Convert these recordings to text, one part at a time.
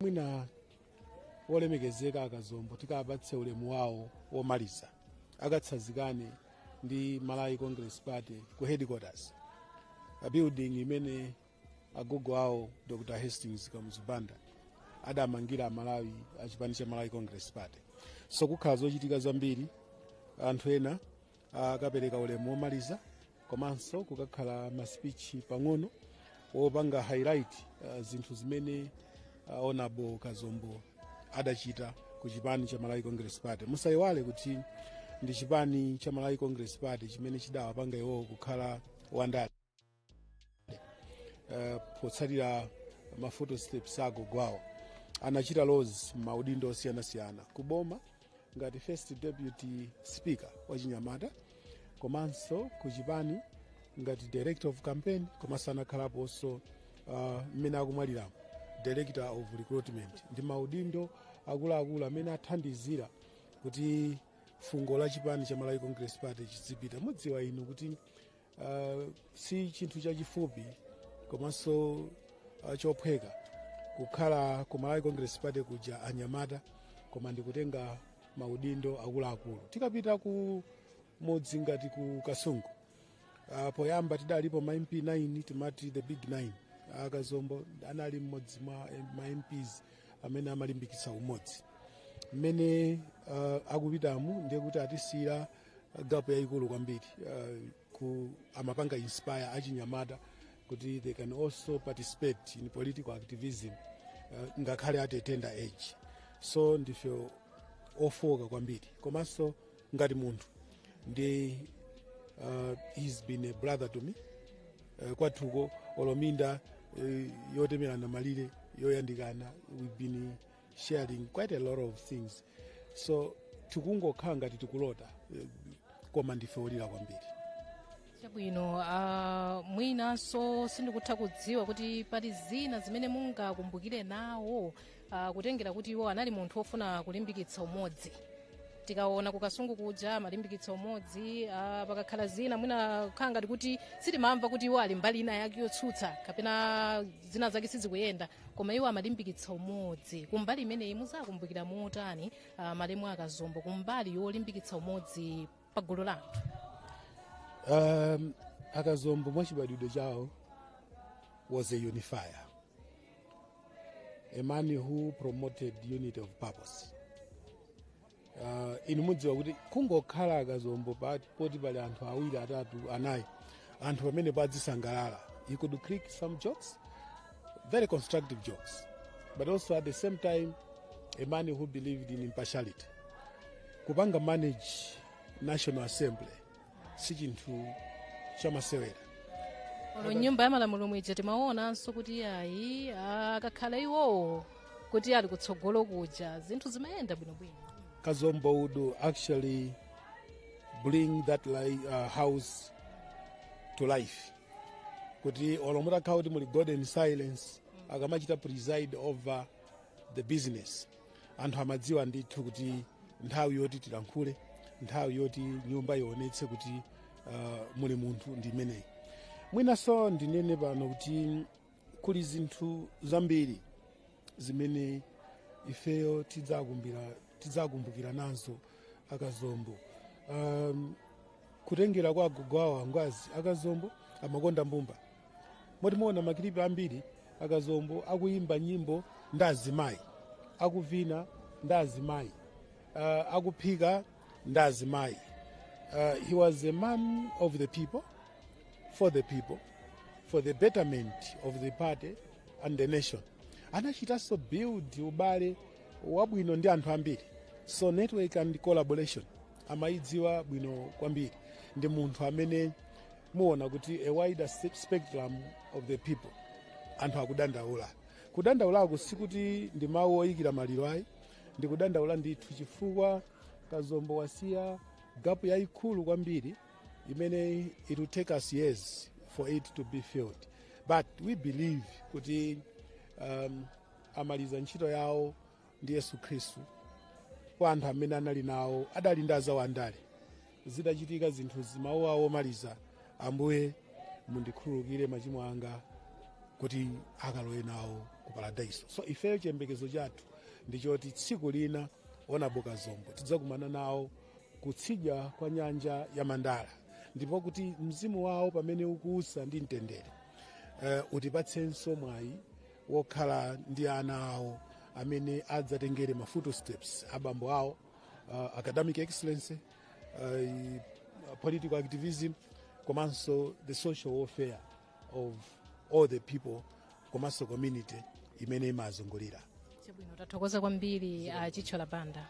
mwina olemekezeka akazombo tikapatse ulemu wawo womaliza akatsazikane ndi malawi congress party ku headquarters a building imene agogo awo dr hastings kamuzu banda adamangira amalawi achipani cha malawi congress party so kukhala zochitika zambiri anthu ena akapereka ulemu womaliza komanso kukakhala masipichi pang'ono wopanga highlight uh, zinthu zimene uh, honorable kazombo adachita ku chipani cha malawi congress party musayiwale kuti ndi chipani cha malawi congress party chimene chidawapanga iwowo kukhala wandale uh, potsatira ma footsteps a agogo awo anachita roles maudindo osiyanasiyana ku boma ngati first deputy speaker wachinyamata komanso ku chipani ngati director of campaign komanso anakhalaponso mmene uh, akumwaliramo director of recruitment ndi maudindo akuluakulu amene athandizira kuti fungo la chipani cha malawi congress party chizipita mudziwa inu kuti Uh, si chinthu chachifupi komanso uh, chophweka kukhala ku malawi congress party uli wachinyamata koma ndikutenga maudindo akuluakulu tikapita ku mudzi ngati ku kasungu uh, poyamba tidalipo ma mp 9 timati the big 9 akazombo anali mmodzi mwa eh, ma mps amene amalimbikitsa umodzi mmene uh, akupitamu ndiye kuti atisiyira gapu yayikulu kwambiri uh, ku amapanga inspire achinyamata kuti they can also participate in political activism uh, ngakhale at a tender age so ndife ofooka kwambiri komanso ngati munthu ndi uh, he's been a brother to me uh, kwathuko olo minda uh, yotemerana malire yoyandikana we've been sharing quite a lot of things so tikungokhala ngati tikulota eh, koma ndife olira kwambiri chabwino uh, mwinanso sindikutha kudziwa kuti pali zina zimene mungakumbukire nawo uh, kutengera kuti iwo anali munthu wofuna kulimbikitsa umodzi tikaona ku kasungu kuja amalimbikitsa umodzi uh, pakakhala zina mwina kukhala ngati kuti sitimamva kuti iwo ali mbali ina yake yotsutsa kapena zina zake sizikuyenda koma iwo amalimbikitsa umodzi kumbali imeneyi muzakumbukira motani uh, malemu akazombo kumbali yolimbikitsa umodzi pa gulu la anthu um, akazombo mwachibadwidwe chawo was a unifier a man who promoted unity of purpose Ah, inu mudziwa kuti kungokhala akazombo pati poti pali anthu awiri atatu anayi anthu pamene padzisangalala he could crack some jokes very constructive jokes but also at the same time a man who believed in impartiality kupanga manage national assembly si chinthu chamasewera m'nyumba ya malamulo mwija timaonanso kuti ayi akakhala iwowo kuti ali kutsogolo kuja zinthu zimayenda bwinobwino kazombo would actually bring that li uh, house to life kuti olo mutakhala kuti muli golden silence akamachita preside over the business anthu amadziwa ndithu kuti nthawi yoti tilankhule nthawi yoti nyumba ionetse kuti uh, muli munthu ndi imeneyi mwinanso ndinene pano kuti kuli zinthu zambiri zimene ifeyo tidzakumbira tidzakumbukira nazo akazombo um, kutengera kwa agogo awo angwazi akazombo amakonda mbumba moti muona makilipi ambiri akazombo akuyimba nyimbo ndi azimayi akuvina ndi azimayi uh, akuphika ndi azimayi uh, he was a man of the people for the people for the betterment of the party and the nation anachitanso build ubale wabwino ndi anthu ambiri so network and collaboration amayidziwa bwino kwambiri ndi munthu amene muona kuti a wider spe- spectrum of the people anthu akudandaula kudandaulako sikuti ndi mawu oyikira maliro ayi ndi kudandaula ndithu chifukwa kazombo wasiya gapu yayikulu kwambiri imene it will take us years for it to be filled but we believe kuti um, amaliza ntchito yawo ndi yesu khristu kwa anthu amene anali nawo adali ndi azawo andale zidachitika zinthuzi mawu awo omaliza ambuye mundikhululukire machimo anga kuti akalowe nawo ku paradaiso so ifeyo chiyembekezo chathu ndi choti tsiku lina honourable kazombo tidzakumana nawo kutsidya kwa nyanja ya mandala ndipo kuti mzimu wawo pamene ukuusa ndi mtendere uh, utipatsenso mwayi wokhala ndi ana awo amene adzatengere ma footsteps abambo awo uh, academic excellence uh, political activism komanso the social welfare of all the people komanso community imene imawazungulira chabwino tathokoza kwambiri achithyola banda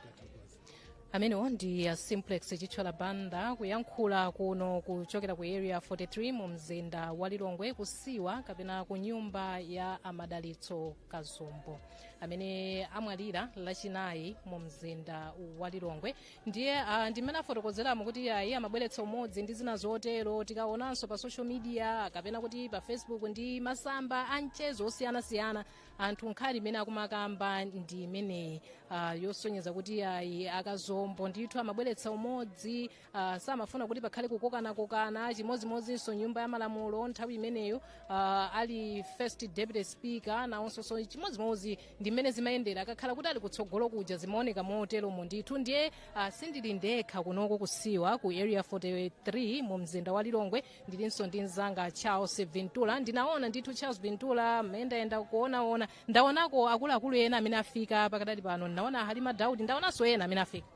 amenewo ndi a simplex chithyola banda kuyankhula kuno kuchokera ku area 43 mu mzinda wa lilongwe kusiwa kapena ku nyumba ya amadalitso kazombo amene amwalira lachinayi mu mzinda wa lilongwe ndiye uh, ndimene afotokozeramo kuti ayi amabweretsa umodzi ndi zina zotero tikaonanso pa social media kapena kuti pa facebook ndi masamba a mchezo osiyanasiyana anthu nkhani imene akumakamba ndi imeneyi uh, yosonyeza kuti ayi akazombo ndithu amabweretsa umodzi uh, samafuna kuti pakhale kukokanakokana chimodzimodzinso m'nyumba ya malamulo nthawi imeneyo uh, ali first deputy speaker nawonsoso chimodzimodzi ndi mmene zimayendera akakhala kuti ali kutsogolo kuja zimaoneka moteromo ndithu ndiye uh, sindili ndekha kunoko kusiwa ku area 43 mu mzinda wa lilongwe ndilinso ndi mzanga charles vintulla ndinaona ndithu charles vintulla mmayendayenda kuonaona ndaonako akuluakulu ena amene afika pakadali pano ndinaona halima daudi ndaonanso ena amene afika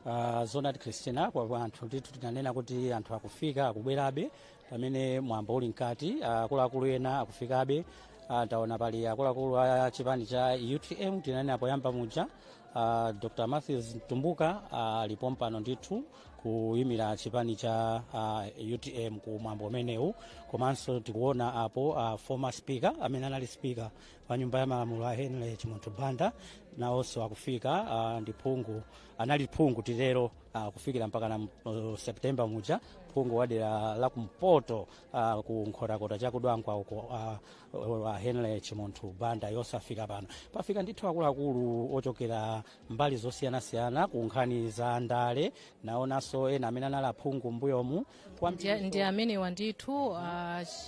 Uh, zoonadi christina kwa anthu ndithu tinanena kuti anthu akufika akubwerabe pamene mwambo uli mkati akuluakulu ena akufikabe uh, ndaona pali akuluakulu a chipani cha utm tinanena poyamba muja uh, dr matthews mtumbuka ali pompano ndithu kuyimira chipani cha uh, utm ku mwambo umenewu komanso tikuona apo uh, former speaker amene anali speaker wa nyumba ya malamulo a henry chimunthu banda nawonso akufika uh, ndi phungu anali phungu titero uh, kufikira mpakana uh, september muja phungu wa dera la kumpoto uh, ku nkhotakota chakudwangwa uko uh, uh, henry chimunthu banda nawonso afika pano pafika ndithu akuluakulu ochokera mbali zosiyanasiyana ku nkhani za ndale ndaonanso ena amene anali aphungu mbuyomu Ndi- ndi amenewa ndithu uh,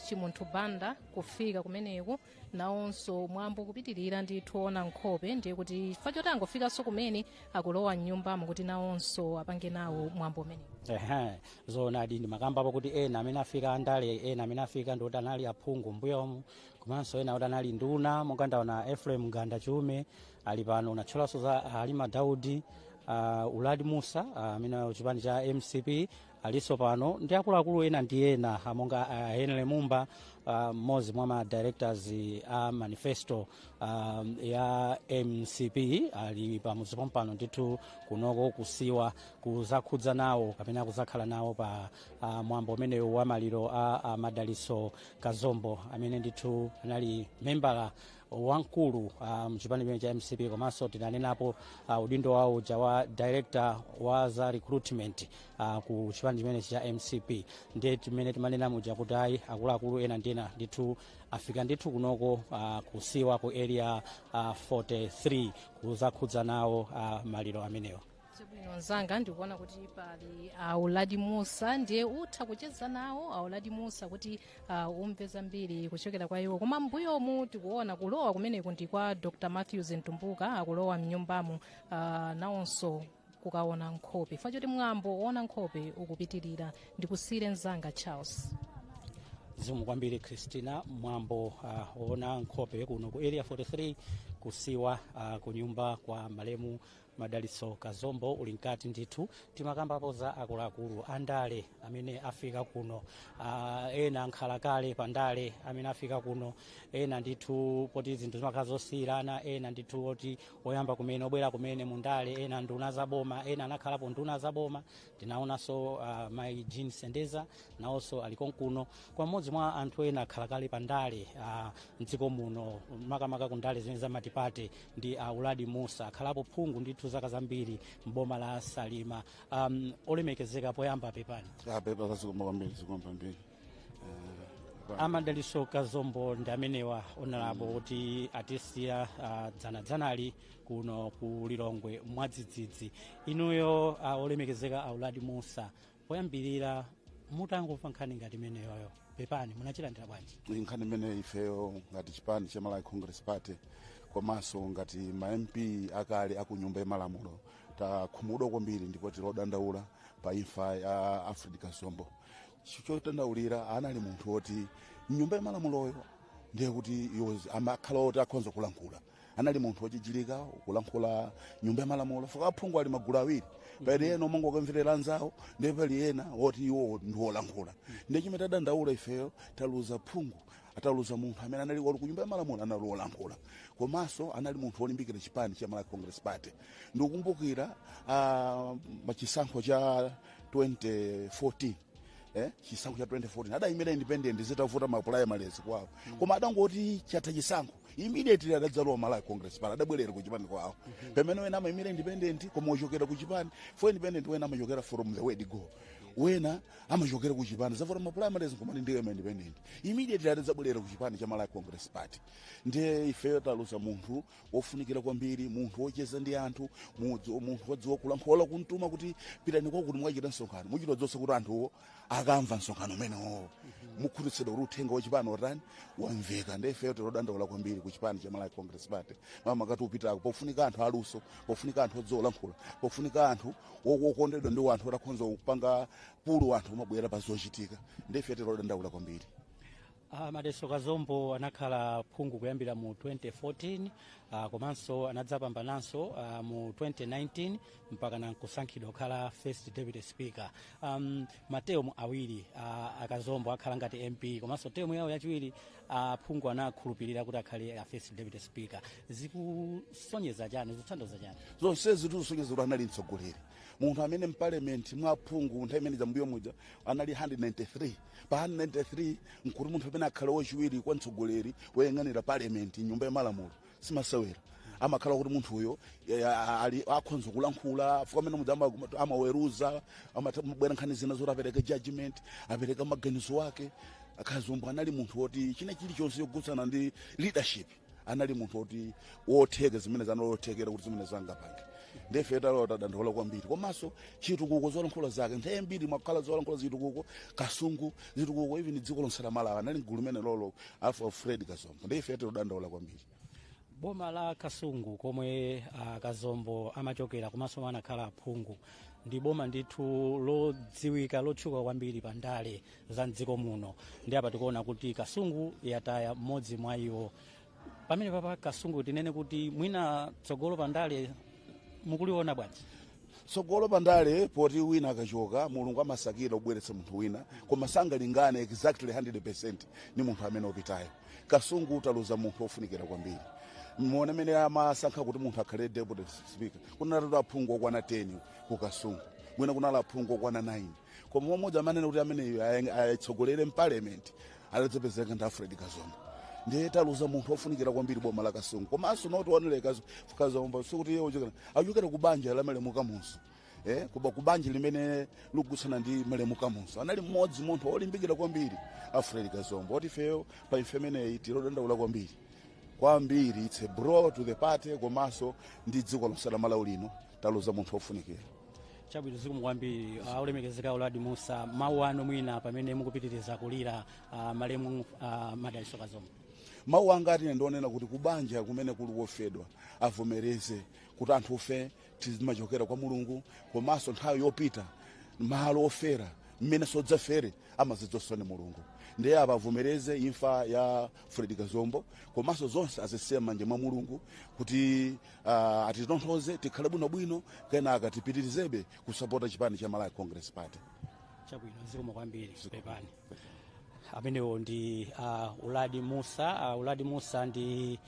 chimunthu banda kufika kumeneku nawonso mwambo kupitirira ndithu ona nkhope ndiye kuti chifukwa choti angofikanso kumene akulowa mnyumbamo kuti nawonso apange nawo mwambo umenewu Ehe, zoonadi ndimakambapo kuti ena amene afika andale ena amene afika ndikuti anali aphungu mbuyomu komanso ena kuti anali nduna monga ndaona ephraim mganda chiume ali pano unatchulaso za halima daudi uh, uladi musa amene uh, chipani cha mcp aliso pano ndi akuluakulu ena ndi ena ah, monga uh, henry mumba ah, mmodzi uh, mwa ma directors a uh, manifesto um, ya mcp ali pamudzi pompano ndithu kunoko kusiwa kuzakhudza nawo kapena kuzakhala nawo pa uh, mwambo umenewu wa maliro a uh, madalitso kazombo amene ndithu anali membala wamkulu uh, mchipani chimene cha mcp komanso tinanenapo uh, udindo wawo uja wa director wa za recruitment uh, ku chipani chimenechi cha mcp ndiye timene timanena muja kuti ayi akuluakulu ena ndi ena ndithu afika ndithu kunoko uh, kusiwa ku area uh, 43 kuzakhudza nawo uh, maliro amenewo chabwino mzanga ndikuona kuti pali a uladi musa ndiye utha kucheza nawo a uladi musa kuti uh, umve zambiri kuchokera kwa iwo koma mbuyomu tikuona kulowa kumeneku ndi kwa dr matthews mtumbuka akulowa mnyumbamo uh, nawonso kukaona nkhope chifukwa choti mwambo woona nkhope ukupitirira ndikusire mzanga charles zikomo kwambiri christina mwambo uh, woona nkhope kuno ku area 43 kusiwa uh, kunyumba kwa malemu madalitso kazombo uli mkati ndithu timakambapo za akuluakulu andale amene afika kuno ah, ena ankhalakale pa ndale amene afika kuno ena ndithu poti zinthu zimakhala zosiyirana ena ndithu oti oyamba kumene obwera kumene mu ndale ena nduna za boma ena anakhalapo nduna za boma tinaonanso uh, mai jean sendeza nawonso ali konkuno koma mmodzi mwa anthu ena ankhalakale pa ndale uh, mdziko muno makamaka ku ndale zimenezi za matipate ndi uh, uladi musa akhalapo phungu ndithu zaka zambiri mboma la salima um, olemekezeka poyamba pepani pepani zikomo kwambiri zikomo kwambiri a madalitso kazombo ndi amenewa monga tinanenapo kuti atisiya ah, dzanadzanali kuno ku lilongwe mwadzidzidzi inuyo ah, olemekezeka a uladi musa poyambirira mutangomva nkhani ngati imeneyoyo pepani munachilandira bwanji Iyi nkhani imene ifeyo ngati chipani cha malawi congress party komanso ngati ma mp akale aku nyumba ya malamulo takhumudwa kwambiri ndipo tili odandaula pa imfa ya alfred kazombo chodandaulira anali munthu woti mnyumba yamalamuloyo ndiye kuti iwo amakhala oti akhonza kulankhula anali munthu wochilimika kulankhula mnyumba yamalamulo chifukwa aphungu ali magulu awiri pali ena omwe amangokamvera anzawo ndiye pali ena woti iwo ndiwolankhula ndiye chimene tadandaula ifeyo taluza phungu taluza munthu amene anali ali kunyumba ya malamulo anali wolankhula komanso anali munthu wolimbikira chipani cha malawi congress party ndikukumbukira uh, machisankho cha 2014 eh, chisankho cha 2014 adayimira independent zitavuta mapulayimale kwawo koma adangoti chatha chisankho immediately adadzalowa malawi congress party adabwerera ku chipani kwawo pamene ena amayimira independent koma ochokera ku chipani for independent ena amachokera from the word go ena amachokera ku chipani zavuta ma primaries nkumati ndiyima independent immediately adadzabwerera ku chipani cha malawi congress party ndiye ifeyo taluza munthu wofunikira kwambiri munthu wocheza ndi anthu mudzi- munthu wodziwa kulankhula kumtuma kuti pitani kwakuti mukachite msonkhano muchita zonse kuti anthuwo akamva msonkhano umenewo nkukhutitsidwa kuti uthenga wachipani watani wamveka ndiye ifeyo tilodandaula kwambiri ku chipani cha malawi congress party mmene kuti upitako pofunika anthu aluso pofunika anthu odziwa kulankhula pofunika anthu wokondedwa ndi wanthu oti akhonza kupanga pull anthu nkumabwera pa zochitika ndiye ife tilodandaula kwambiri Ah, Madalitso Kazombo anakhala phungu kuyambira mu 2014 ah, komanso anadzapambananso ah, mu 2019 mpaka nkusankhidwa kukhala first deputy speaker um, matemu awiri ah, akazombo akhala ngati mp komanso temu yawo yachiwiri aphungu anakhulupirira kuti akhale a first deputy speaker zikusonyeza chani zikutanthauza chani zonse zikusonyeza kuti anali mtsogoleri munthu amene mparliament mwa aphungu nthawi imene zambuyo muja anali 193 pa 193 nkuti munthu amene akhale wachiwiri kwa mtsogoleri woyang'anira parliament nyumba ya malamulo simasewera amakhala kuti munthu uyo eh, a- ali akhonza kulankhula chifukwa mmene muja ama- amaweruza pamabwera nkhani zina zoti apereke judgment apereke maganizo ake akazombo anali munthu woti china chilichonse chokhudzana ndi leadership anali munthu woti wotheka zimene sanalotekera kuti zimene zangapange ndiye ife tadandaula kwambiri komanso chitukuko zolankhula zake nthawi zambiri zimakhala zolankhula zitukuko kasungu zitukuko even dziko lonse la malawi anali mgulu limenelolo alfred kazo ndiye ife tilodandaula kwambiri boma la kasungu komwe akazombo amachokera komanso anakhala aphungu ndi boma ndithu lodziwika lotchuka kwambiri pa ndale za mdziko muno ndiye apa tikuona kuti kasungu yataya mmodzi mwa iwo pamenepapa kasungu tinene kuti mwina tsogolo pa ndale mukuliona bwanji tsogolo pandale poti wina akachoka mulungu amasakira kubweretsa munthu wina koma sangalingane exactly 100% ndi munthu amene wapitayo kasungu taluza munthu ofunikira kwambiri muone mmene amasankha kuti munthu akhale deputy speaker kunalatu aphungu okwana 10 ku kasungu mwina kunali aphungu okwana 9 koma mmodzi amanena kuti ameneyo atitsogolere mparliament anadzapezeka ndi alfred kazombo ndiye taluza munthu ofunikira kwambiri boma la kasungu komanso ndisaiwale akazombo sikuti iye uchokera achokera ku banja la malemu kamuzu eh, ku ba- ku banja limene likukhudzana ndi malemu kamuzu anali mmodzi munthu olimbikira kwambiri alfred kazombo oti ifeyo pa imfa imeneyi tilodandaula kwambiri kwambiri it's a blow to the party komanso ndi dziko lonse la malawi lino taluza munthu wofunikira chabwino zikomo kwambiri uh, olemekezeka uladi musa mawu anu mwina pamene mukupitiriza kulira uh, malemu uh, madaliso kazombo mawu anga ati ine ndionena kuti kubanja kumene kuli wofedwa avomereze kuti anthufe timachokera kwa mulungu komanso nthawi yopita malo ofera mmene tidzafere amadziwa ndi mulungu ndiye apa avomereze imfa ya fred kazombo komanso zonse azisiye m'manja mwa mulungu kuti uh, atitonthoze tikhale bwinobwino kenaka tipitirizebe kusapota chipani cha malawi congress party chabwino zikomo kwambiri pepani amenewo ndi uh, uladi musa uh, uladi musa ndi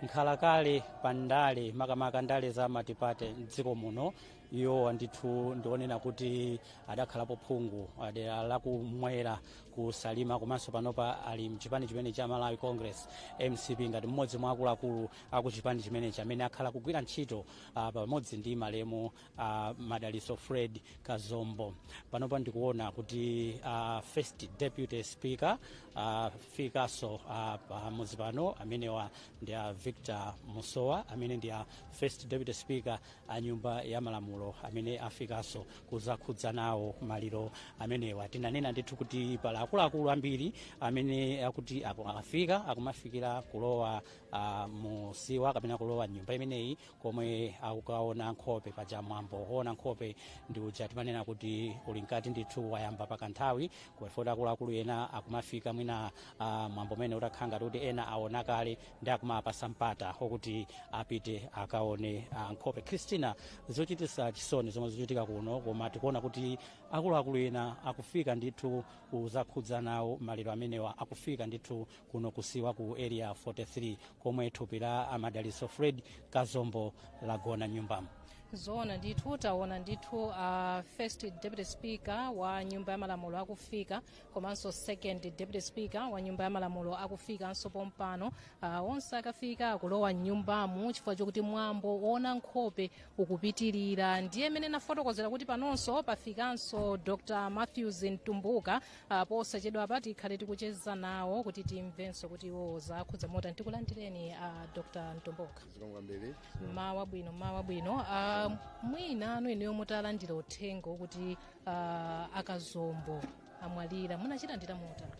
nkhalakale pa ndale makamaka ndale za matipate mdziko muno iwowa ndithu ndionena kuti adakhalapo phungu wa dera lakumwera ku salima komanso panopa ali mchipani chimene cha malawi congress mcp ngati mmodzi mwa akuluakulu akuchipani chimenechi amene akhala akugwira ntchito uh, pamodzi ndi malemu uh, madaliso fred kazombo panopa ndikuona kuti uh, first deputy speaker uh, afikanso uh, pamudzi pano amenewa ndi a victor musowa amene ndi a first deputy speaker a nyumba ya malamulo amene afikanso kuzakhuza nawo maliro amenewa tinanena ndithu kuti pali akuluakulu ambiri amene akuti aku- afika akumafikira kulowa uh, musiwa kapena kulowa mnyumba imeneyi komwe akukaona nkhope paja mwambo oona nkhope ndi uja timanena kuti uli mkati ndithu wayamba pakanthawi kuwefuti akuluakulu ena akumafika mwina uh, mwambo umene utakhala ngati kuti ena aona kale ndi akumawapasa mpata okuti apite akaone uh, nkhope christina zochitisa chisoni zomwe zikuchitika kuno koma tikuona kuti akuluakulu ena akufika ndithu kuzakhuza nawo maliro amenewa akufika ndithu kuno kusiwa ku area 43 komwe thupi la amadaliso fred kazombo lagona mnyumbamo zoona ndithu taona ndithu uh, first deputy speaker wa nyumba ya malamulo akufika komanso second deputy speaker wa nyumba ya malamulo akufikanso pompano uh, onse akafika akulowa mnyumbamu chifukwa chokuti mwambo woona nkhope ukupitirira ndiye mmene ndinafotokozera kuti panonso pafikanso dr matthews mtumbuka Ah, posachedwapa tikhale tikucheza nawo kuti timvenso kuti iwowo zawakhudza motani tikulandireni a dr mtumbuka zikomo kwambiri mwaswera bwanji mawa wabwino Ah, mwinanu inuyo mutalandira uthenga kuti ah, akazombo amwalira munachilandira motani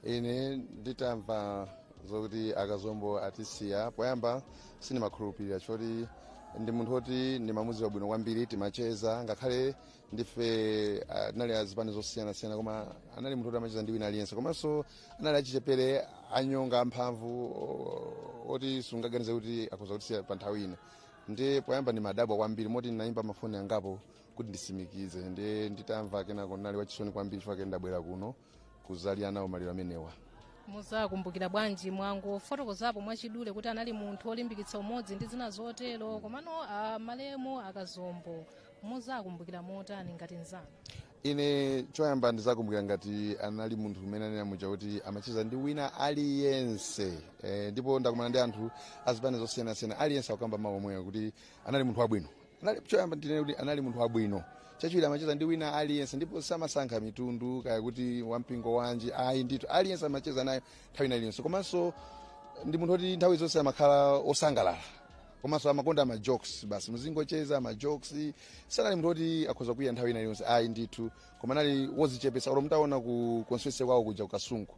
ine nditamva zokuti akazombo atisiya poyamba sindimakhulupirira choti ndi munthu woti ndimamudziwa bwino kwambiri timacheza ngakhale ndife anali azipani zosiyanasiyana koma anali munthu kuti amacheza ndi wina aliyense komanso anali achichepere anyonga amphamvu oti sungaganize kuti akhoza kutisiya pa nthawi ino ndiye poyamba ndinadabwa kwambiri moti ndinayimba mafoni angapo kuti ndisimikize ndiye nditamva kenako ndinali wachisoni kwambiri chifukwa ndabwera kuno kuzalira nawo maliro amenewa muzakumbukira bwanji mwangofotokozapo mwachidule kuti anali munthu olimbikitsa umodzi ndi zina zotero komano ah, malemu akazombo muzakumbukira motani ngati nzanu ine choyamba ndizakumbukira ngati anali munthu umene anena muja kuti amacheza ndi wina aliyense e, ndipo ndakumana ndi anthu azipani zosiyanasiyana aliyense akukamba mawu omwewo kuti anali munthu wabwino anali choyamba ndinene kuti anali munthu wabwino chachiwiri amacheza ndi wina aliyense ndipo samasankha mitundu kaya kuti wampingo wanji ayi ndithu aliyense amacheza naye nthawi ina iliyonse komanso ndi munthu oti nthawi zonse amakhala osangalala komanso amakonda ma jokes basi muzingocheza ma jokes sanali munthu oti akhoza kukwiya nthawi ina iliyonse ayi ndithu koma anali wozichepesa olo mutaona ku constituency kwawo kuja ku kasungu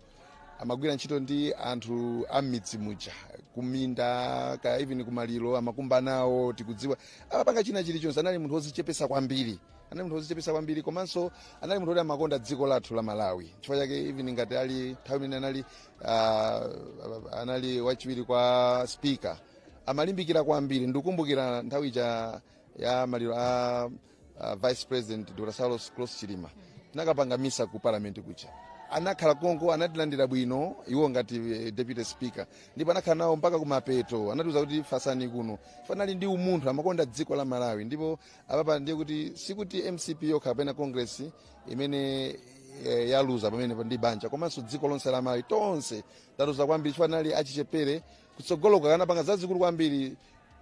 amagwira ntchito ndi anthu a m'midzi muja kuminda kaya even kumaliro amakumba nawo tikudziwa amapanga china chilichonse anali munthu wozichepesa kwambiri anali munthu wozichepesa kwambiri komanso anali munthu woti amakonda dziko lathu la malawi chifukwa chake even ngati ali nthawi imene anali uh, anali wachiwiri kwa speaker amalimbikira kwambiri ndikumbukira nthawi ija ya maliro a uh, vice president dr saulos klaus chilima tinakapanga misa ku parliament kuja anakhala konko anatilandira bwino iwo ngati eh, deputy speaker ndipo anakhala nawo mpaka kumapeto anatiuza kuti fasani kuno anali ndi umunthu amakonda dziko la malawi ndipo apapa ndiye kuti sikuti mcp yokha kapena constituency imene eh, yaluza pamene ndi banja komanso dziko lonse la malawi tonse taluza kwambiri chifukwa anali achichepere kutsogoloku akanapanga zazikulu kwambiri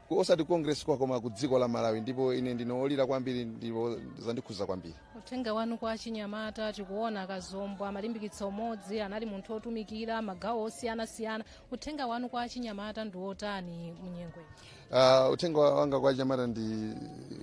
ku- osati constituency kwawo koma ku dziko la malawi ndipo ine ndine olira kwambiri ndipo zandikhuza kwambiri uthenga wanu kwa achinyamata tikuona akazombo amalimbikitsa umodzi anali munthu otumikira magawo osiyanasiyana uthenga wanu kwa achinyamata ndi wotani munyengo iyi? Uh, uthenga wanga kwa achinyamata ndi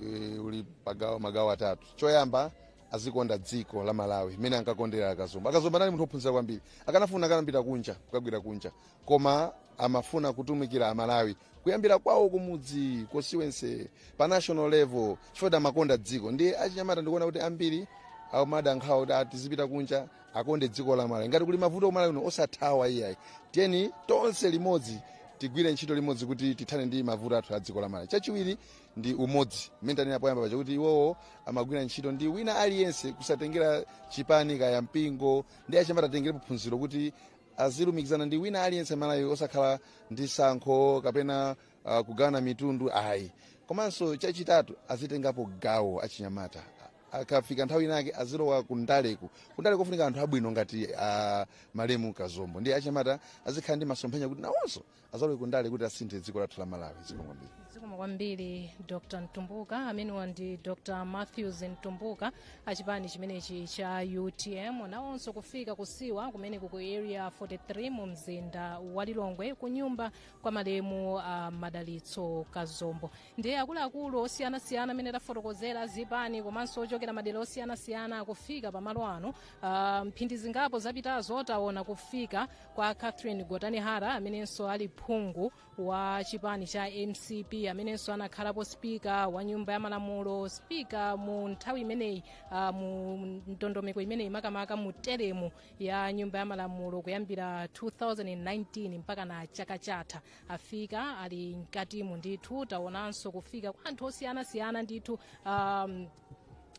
eh, uli pa magawo atatu choyamba azikonda dziko la malawi mmene ankakondera akazombo akazombo anali munthu ophunzira kwambiri akanafuna akanapita kunja kukagwira kunja koma amafuna kutumikira amalawi kuyambira kwawo kumudzi constituency pa national level chifukwa amakonda dziko ndiye achinyamata ndikuona kuti ambiri amada nkhawa kuti ah tizipita kunja akonde dziko la malawi ngati kuli mavuto kumalawi kuno osathawa iyayi tiyeni tonse limodzi tigwire ntchito limodzi kuti tithane ndi mavuto athu a dziko la malawi chachiwiri ndi umodzi mmene tanena poyamba paja kuti iwowo amagwira ntchito ndi wina aliyense kusatengera chipani kaya mpingo ndiye achinyamata atengerepo phunziro kuti azilumikizana ndi wina aliyense malawi osakhala ndi sankho kapena uh, kugawana mitundu ayi komanso chachitatu azitengapo gawo achinyamata akafika nthawi inake azilowa kundaleko kundaleko kufunika anthu abwino ngati a malemu kazombo ndiye achinyamata azikhala ndi masomphenya kuti nawonso azalowe ku ndale kuti asinthe dziko lathu la malawi zikomo kwambiri zikomo kwambiri dr mtumbuka amenewa ndi dr matthews mtumbuka achipani chimenechi cha utm nawonso kufika kusiwa kumeneku ku area 43 mu mzinda wa lilongwe ku nyumba kwa malemu a madalitso kazombo ndiye akuluakulu osiyanasiyana amene tafotokozera zipani komanso ochokera madera osiyanasiyana akufika pamalo ano uh, mphindi zingapo zapitazo taona kufika kwa catherine gotani hara amenenso ali phungu wa chipani cha mcp amenenso anakhalapo spika wa nyumba ya malamulo spika mu nthawi imeneyi uh, mu ndondomeko imeneyi makamaka mu teremu ya nyumba ya malamulo kuyambira 2019 mpaka na chaka chatha afika ali mkatimu ndithu taonanso kufika kwa anthu osiyanasiyana ndithu um,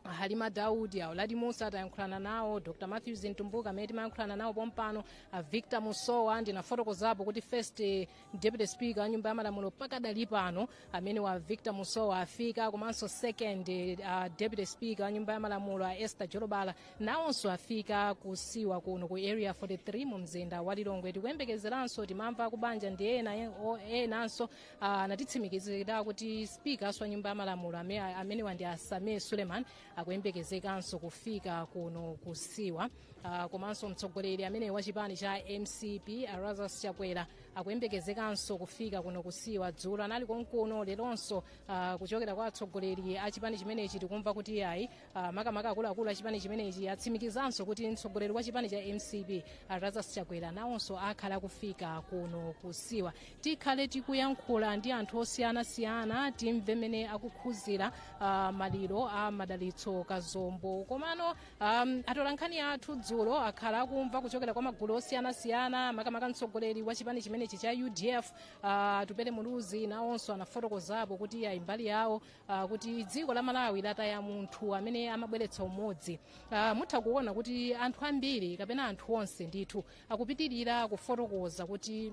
halima daudi a uladi mussa tayankhulana nawo dr matthews mtumbuka amene timayankhulana nawo pompano a victor musowa ndinafotokozapo kuti first eh, deputy speaker wa nyumba ya malamulo pakadali pano amenewa a victor musowa afika komanso second eh, ah, deputy speaker wa nyumba ya malamulo a esther jolobala nawonso afika kusiwa kuno ku area 43 mu mzinda wa lilongwe tikuyembekezeranso timamva akubanja ndi ena e- o- enanso ah, anatitsimikizira kuti spika wa nyumba ya malamulo ame- amenewa ndi a sameer suleman akuyembekezekanso kufika kuno kusiwa Ah, komanso mtsogoleri amenewa a chipani cha mcp a lazarus chakwera akuyembekezekanso kufika kuno kusiwa dzulo anali konkuno leronso ah, kuchokera kwa atsogoleri a chipani chimenechi tikumva kuti ayi Ah, makamaka akuluakulu a chipani chimenechi atsimikizanso kuti mtsogoleri wa chipani cha mcp a lazarus chakwera nawonso akhala akufika kuno kusiwa tikhale tikuyankhula ndi anthu osiyanasiyana timve mmene akukhuzira ah, maliro a madalitso kazombo komano um, atolankhani athu dzulo akhala akumva kuchokera kwa magulu osiyanasiyana makamaka mtsogoleri wa chipani chimenechi cha udf a atupele muluzi nawonso anafotokozapo kuti ayi mbali yawo Uh, kuti dziko la malawi lataya munthu amene amabweretsa umodzi uh, mutha kuona kuti anthu ambiri kapena anthu onse ndithu akupitirira kufotokoza kuti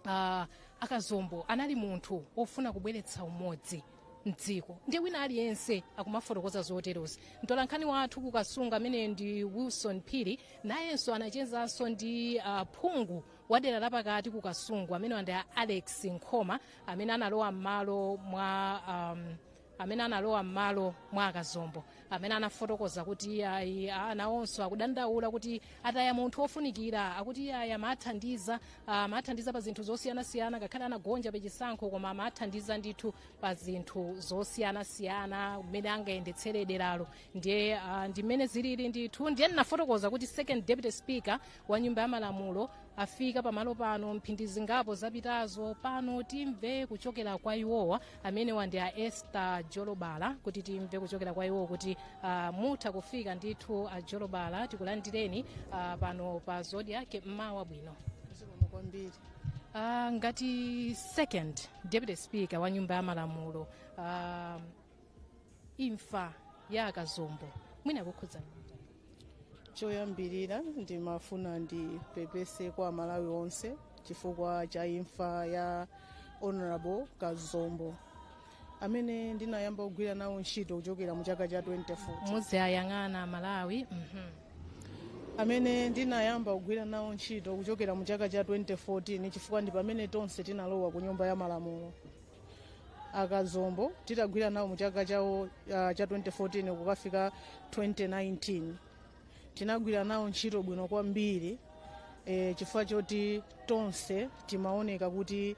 uh, akazombo anali munthu ofuna kubweretsa umodzi mdziko ndiye wina aliyense akumafotokoza zoterozi mtolankhani wathu kukasungu ameneyo ndi wilson phiri nayenso anachezanso ndi uh, phungu wa dera lapakati kukasungu amenewa ndi a alex nkhoma amene analowa m'malo mwa um, amene analowa m'malo mwa akazombo amene anafotokoza kuti ayi nawonso akudandaula kuti ataya munthu wofunikira akuti ayi amathandiza amathandiza pa zinthu zosiyanasiyana ngakhale anagonja pa chisankho koma amathandiza ndithu pa zinthu zosiyanasiyana mmene angayendetsere deralo ndiye ah, ndi mmene zilili ndithu ndiye ndinafotokoza kuti second deputy speaker wa nyumba ya malamulo afika pamalo pano mphindi zingapo zapitazo pano timve kuchokera kwa iwowa amenewa ndi a esther jolobala kuti timve kuchokera kwa iwowa kuti uh, mutha kufika ndithu a jolobala tikulandireni uh, pano pa Zodiak mmawa wabwino zikomo kwambiri uh, ngati second deputy speaker wa nyumba ya malamulo uh, imfa ya akazombo mwina yakukhudzani choyambirira ndimafuna ndipepese kwa amalawi onse chifukwa cha imfa ya honorable kazombo amene ndinayamba kugwira nawo ntchito kuchokera mu chaka cha 2014 muziwayang'ana amalawi mhm. amene ndinayamba kugwira nawo ntchito kuchokera mu chaka cha 2014 chifukwa ndi pamene tonse tinalowa ku nyumba ya malamulo akazombo titagwira nawo mu chaka chawo uh, cha 2014 kukafika 2019 tinagwira nawo ntchito bwino kwambiri e, chifukwa choti tonse timaoneka kuti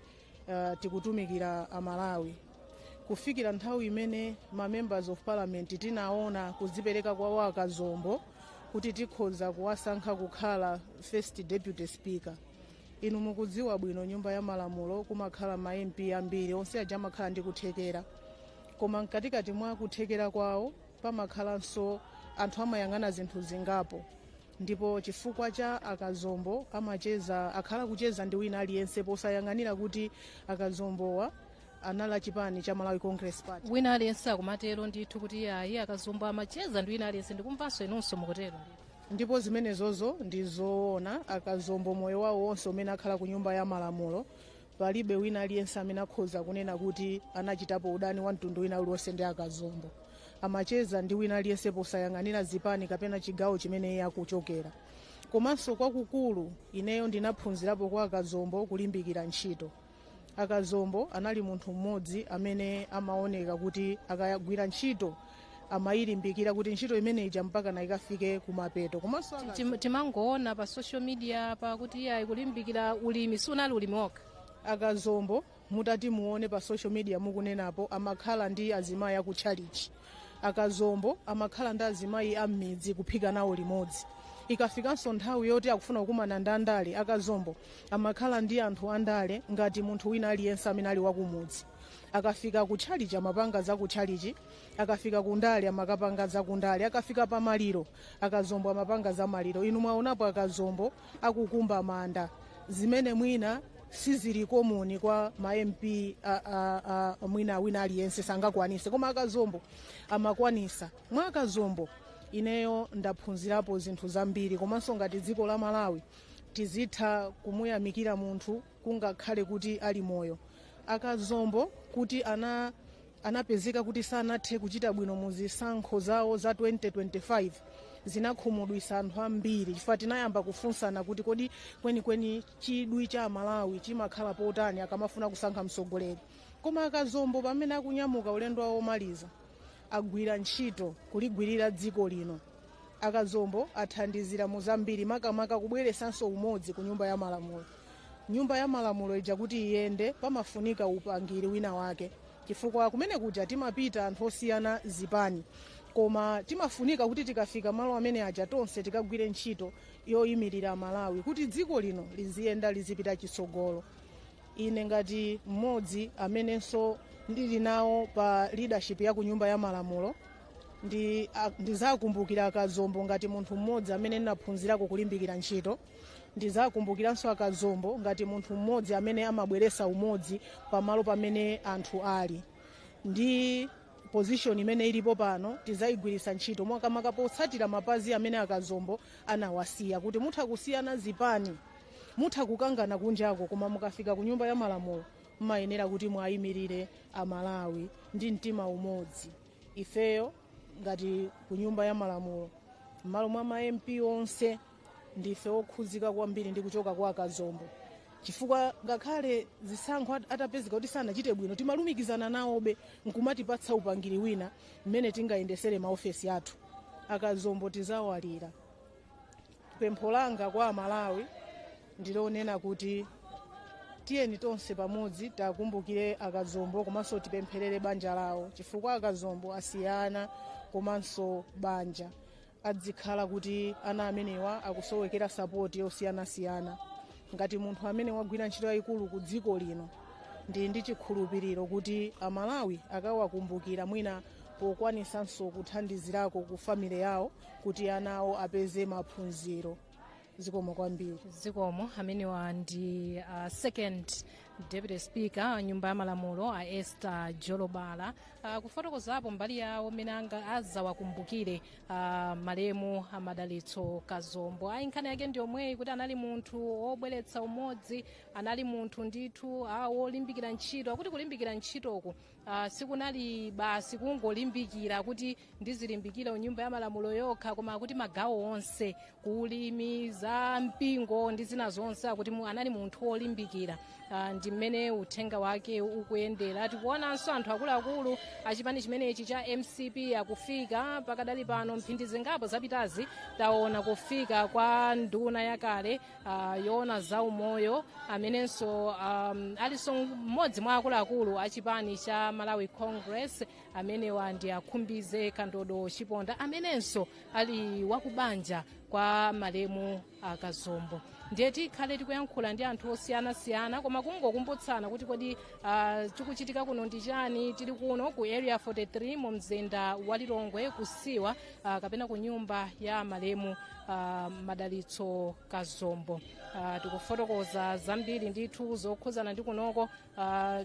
uh, tikutumikira amalawi kufikira nthawi imene ma members of parliament tinaona kuzipereka kwawo akazombo kuti tikhoza kuwasankha kukhala first deputy speaker inu mukudziwa bwino nyumba ya malamulo kumakhala ma mp ambiri onse aja amakhala ndi kuthekera koma mkatikati mwa kuthekera kwawo pamakhalanso anthu amayang'ana zinthu zingapo ndipo chifukwa cha akazombo akhala akucheza ndi wina aliyense posayang'anira kuti akazombowa anali achipani cha malawi congress party wina aliyense akumatero ndithu kuti ayi akazombo amacheza ndi wina aliyense ndikumvanso inunso mukutero ndithu ndipo zimenezozo ndi zoona akazombo moyo wawo wonse umene akhala ku nyumba ya malamulo palibe wina aliyense amene akhoza kunena kuti anachitapo udani wa mtundu wina uliwonse ndi akazombo amacheza ndi wina aliyense posayang'anira zipani kapena chigawo chimene iye akuchokera komanso kwakukulu ineyo ndinaphunzirapo kwa akazombo kulimbikira ntchito akazombo anali munthu mmodzi amene amaoneka kuti akayigwira ntchito amayilimbikira kuti ntchito imene ija mpaka na ikafike kumapeto komanso aka- Tim- timangoona pa social media pakuti ayi akulimbikira ulimi siunali ulimi wokha akazombo mutati muone pa social media mukunenapo amakhala ndi azimayi akutchalichi akazombo amakhala ndi azimayi a m'midzi kuphika nawo limodzi ikafikanso nthawi yoti akufuna kukumana ndi andale akazombo amakhala ndi anthu andale ngati munthu wina aliyense amene ali wakumudzi akafika ku tchalichi amapanga za ku tchalichi akafika ku ndale amakapanga za ku ndale akafika pa maliro akazombo amapanga za maliro inu mwaonapo akazombo akukumba manda zimene mwina sizili common kwa ma mp a, a, a, mwina wina aliyense sangakwanise koma akazombo amakwanisa mwa akazombo ineyo ndaphunzirapo zinthu zambiri komanso ngati dziko la malawi tizitha kumuyamikira munthu kungakhale kuti ali moyo akazombo kuti anapezeka kuti sanathe kuchita bwino mu zisankho zawo za 2025 zinakhumudwisa anthu ambiri chifukwa tinayamba kufunsana kuti kodi kwenikweni chidwi cha amalawi chimakhala pa otani akamafuna kusankha mtsogoleri koma akazombo pamene akunyamuka ulendo wawo omaliza agwira ntchito kuligwirira dziko lino akazombo athandizira mu zambiri makamaka kubweresanso umodzi ku nyumba ya malamulo nyumba ya malamulo ija kuti iyende pamafunika upangiri wina wake chifukwa kumene kuja timapita anthu osiyana zipani koma timafunika kuti tikafika malo amene aja tonse tikagwire ntchito yoyimirira Malawi kuti dziko lino liziyenda lizipita chitsogolo. Ine ngati mmodzi amenenso ndili nawo pa leadership ya ku Nyumba ya Malamulo ndizakumbukira akazombo ngati munthu mmodzi amene ndinaphunzirako kulimbikira ntchito ndizakumbukiranso akazombo ngati munthu mmodzi amene amabweresa umodzi pamalo pamene anthu ali ndi position imene ilipo pano tizaigwiritsa ntchito makamaka potsatira mapazi amene akazombo anawasiya kuti mutha kusiyana zipani mutha kukangana kunjako koma mukafika ku nyumba ya malamulo mmayenera kuti mwayimirire amalawi ndi mtima umodzi ifeyo ngati ku nyumba ya malamulo mmalo mwa ma mp onse ndife okhuzika kwambiri ndi kuchoka kwa akazombo chifukwa ngakhale zisankho at- atapezeka kuti sanachite bwino timalumikizana nawobe nkumatipatsa upangiri wina mmene tingayendesere maofesi athu akazombo tizawalira pempho langa kwa amalawi ndilonena kuti tiyeni tonse pamodzi tiwakumbukire akazombo komanso tipempherere banja lawo chifukwa akazombo asiya ana komanso banja adzikhala kuti ana amenewa akusowekera sapoti yosiyanasiyana ngati munthu amene wagwira ntchito yayikulu ku dziko lino ndi ndi chikhulupiriro kuti amalawi akawakumbukira mwina pokwanisanso kuthandizirako ku family yawo kuti ana awo apeze maphunziro zikomo kwambiri zikomo amenewa ndi uh, second deputy speaker a nyumba ya malamulo a esther jolobala uh, kufotokozapo mbali yawo mmene azawakumbukire uh, malemu a madalitso kazombo ayi nkhani yake ndi yomweyi kuti anali munthu wobweretsa umodzi anali munthu ndithu ah, wolimbikira ntchito akuti kulimbikira ntchitoku uh, sikunali basi kungolimbikira kuti ndizilimbikira ku nyumba ya malamulo yokha koma akuti magawo onse ku ulimi za mpingo ndi zina zonse akuti mu- anali munthu wolimbikira Ah, ndi mmene uthenga wake ukuyendera tikuonanso anthu akuluakulu achipani chimenechi cha mcp akufika pakadali pano mphindi zingapo zapitazi taona kufika kwa nduna yakale ah, yoona za umoyo amenenso um, alinso mmodzi mwa akuluakulu achipani cha malawi congress amenewa ndi a khumbize kandodo chiponda amenenso ali wakubanja kwa malemu akazombo ndiye tikhale tikuyankhula ndi anthu osiyanasiyana koma kungokumbutsana kuti kodi uh, chikuchitika kuno ndi chani tili kuno ku area 43 mu mzinda wa lilongwe kusiwa uh, kapena ku nyumba ya malemu uh, madalitso kazombo uh, tikufotokoza zambiri ndithu zokhuzana ndi kunoko uh,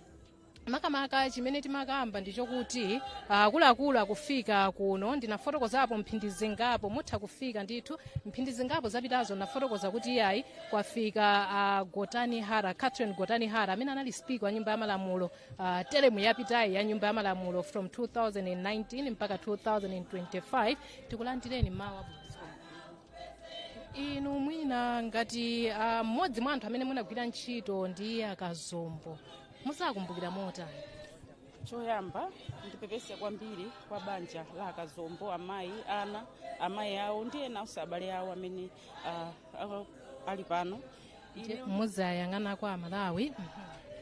makamaka chimene timakamba ndi chokuti akuluakulu akufika kuno ndinafotokozapo mphindi zingapo mutha kufika ndithu mphindi zingapo zapitazo ndinafotokoza kuti iyayi kwafika ah, gotani hara catherine gotani hara amene anali speaker wa nyumba ya malamulo ah, teremu yapitayi ya nyumba ya malamulo from 2019 mpaka 2025 tikulandireni mwawa inu mwina ngati ah, mmodzi mwa anthu amene munagwira ntchito ndi akazombo muzawakumbukira motani choyamba ndipepese kwambiri kwa banja la akazombo amayi ana amayi awo ndi enanso abale awo amene ah, ah, ali pano Ine- muzayang'ana kwa malawi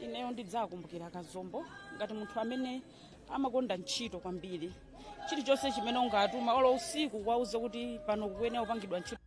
ineyo ndidzakumbukira akazombo ngati munthu amene amakonda ntchito kwambiri chilichonse chimene ungatuma olo usiku kuwauza kuti pano pakuyenera kupangidwa ntchito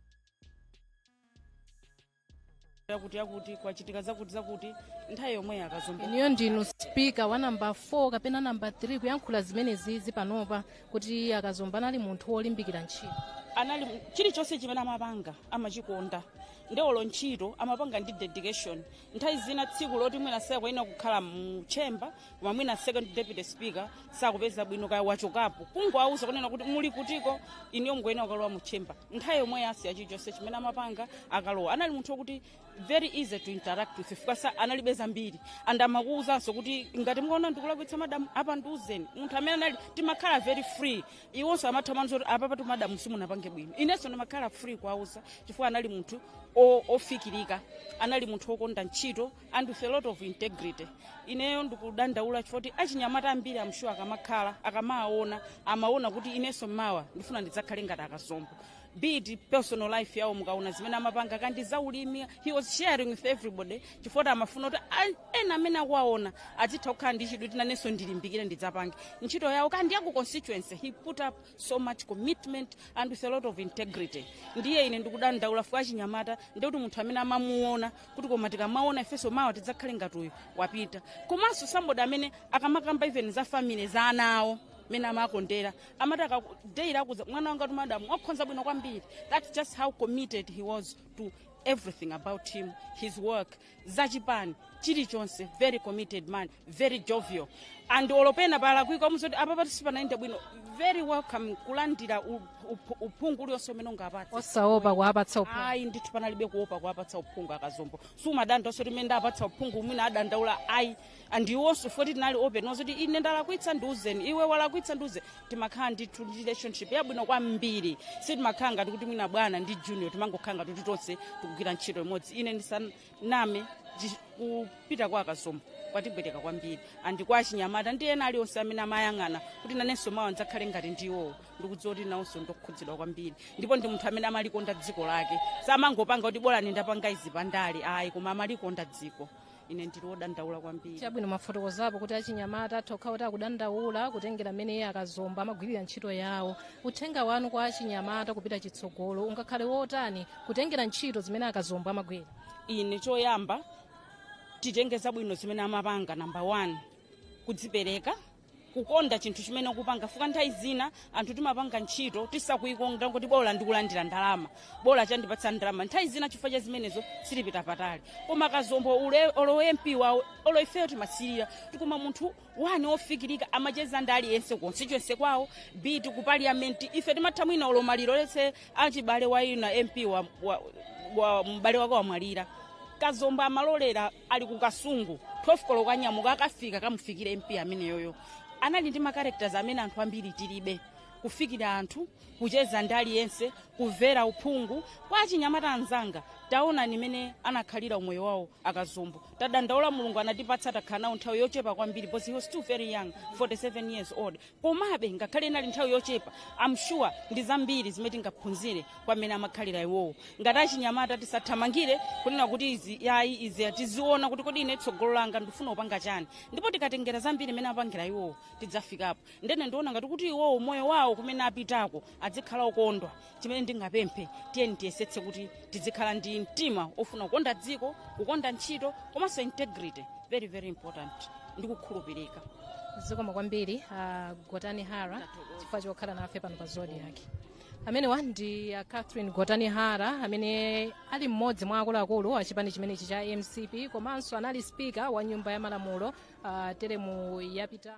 yakuti yakuti kwachitika zakuti zakuti nthawi yomweyo akazombo iniyo ndinu spika wa namba 4 kapena namba 3 kuyankhula zimenezizi panopa kuti akazombo anali munthu wolimbikira ntchito anali chilichonse chimene amapanga amachikonda nde olo ntchito amapanga ndi dedication nthawi zina tsiku loti mwina sakuyenera kukhala mu chamber koma mwina second deputy speaker sakupeza bwino kaya wachokapo kungowauza kunena kuti muli kutiko iniyo mukuyenera kukalowa mu chamber nthawi yomwe asiya chilichonse chimene amapanga akalowa anali munthu wokuti very easy to interact with chifukwa analibe zambiri and amakuwuzanso kuti ngati mukaona ndikulakwitsa madamu apa ndiuzeni munthu amene anali timakhala very free iwonso amatha kuuza kuti apapatu madamu simunapange bwino inenso ndimakhala free kuwauza chifukwa anali munthu o- ofikirika anali munthu wokonda ntchito and with a lot of integrity ineyo ndikudandaula chifoti achinyamata ambiri amshuwa akamakhala akamuona amaona kuti inenso mawa ndifuna ndidzakhale ngati a Kazombo be it personal life yawo mukaona zimene amapanga kaya ndi za ulimi he was sharing with everybody chifoti amafuna kuti a- ena amene akuwaona azitha kukhala ndi chidwi kuti nanenso ndilimbikire ndidzapange ntchito yawo kaya ndi yaku constituency he put up so much commitment and with a lot of integrity ndiye ine ndikudandaula fuka achinyamata ndikuti munthu amene amamuona kuti koma tikamuona ifenso mawa tidzakhale ngati uyu wapita komanso somebody amene akamakamba even za family za ana awo mene amakondera amati akaku- daily akuuza mwana wangatu madamu wakhonza bwino kwambiri that's just how committed he was to everything about him his work za chipani chilichonse very committed man very jovial and olo pena palakwika amauza kuti apapatu sipanayende bwino very welcome kulandira u- up- uphungu ulionse umene ungawapatse osaopa kuwapatsa uphungu ayi ndithu panalibe kuopa kuwapatsa uphungu a Kazombo sumadandaula kuti mene ndapatsa uphungu mwina adandaula ayi and iwonso foti tinali open owuza kuti ine ndalakwitsa ndiuzeni iwe walakwitsa ndiuze timakhala ndithu relationship yabwino kwambiri sitimakhala ngati kuti mwina bwana ndi junior timangokhala ngati kuti tonse tikugwira ntchito imodzi ine ndisaname chi- kupita kwa a Kazombo kwatipweteka kwambiri and kwa achinyamata ndi ena alionse amene amayang'ana kuti nanenso mawa ndidzakhale ngati iwowo ndikudziwa kuti nawonso ndokhudzidwa kwambiri ndipo ndi munthu amene amalikonda dziko lake samangopanga kuti bola ndapanga izi pandale ayi koma amalikonda dziko ine ndili wodandaula kwambiri chabwino mwafotokozapo kuti achinyamata atha kukhala kuti akudandaula kutengera mmene iye a Kazombo amagwirira ntchito yawo uthenga wanu kwa achinyamata kupita chitsogolo ungakhale wotani kutengera ntchito zimene a Kazombo amagwira ine choyamba titenge zabwino zimene amapanga namba 1 kudzipereka kukonda chinthu chimene ukupanga fuka nthawi zina anthu timapanga ntchito tisakuikonda kuti bola ndikulandira ndalama bola chandipatsa ndalama nthawi zina chifukwa cha zimenezo sitipita patali koma a Kazombo ule- olo ma MP awo olo ifeyo timasirira kuti koma munthu wanji ofikirika amacheza ndi aliyense ku constituency kwawo be it ku parliament ife timatha mwina olo maliro let's say achibale a ena MP wa, wa, wa mbale wake wamwalira a Kazombo amalolera ali ku kasungu 12 koloko anyamuka akafika kamufikire mp ameneyoyo anali ndi ma characters amene anthu ambiri tilibe kufikira anthu kucheza ndi aliyense kumvera uphungu kwa achinyamata anzanga taona mmene anakhalira umoyo wawo a kazombo tadandaula mulungu anatipatsa takhala nawo nthawi yochepa kwambiri because he was still very young 47 years old komabe ngakhale inali nthawi yochepa am sure ndi zambiri zimene tingaphunzire kwa mmene amakhalira iwowo ngati achinyamata tisathamangire kunena kuti ayi izi tiziona kuti kodi ine tsogolo langa ndifuna kupanga chani ndipo tikatengera zambiri mmene amapangira iwowo tidzafikapo ndene ndiona ngati kuti iwowo moyo wawo kumene apitako adzikhala okondwa chimene ndingapemphe tiyeni tiyesetse kuti tidzikhala ndi mtima ofuna kukonda dziko kukonda ntchito komanso integrity very very important ndi kukhulupirika zikomo kwambiri a gotani hara chifukwa chokhala nafe pano pa zodiak amenewa ndi a catherine gotani hara amene ali mmodzi mwa akuluakulu a chipani chimenechi cha mcp komanso anali spika wa nyumba ya malamulo uh, teremu yapita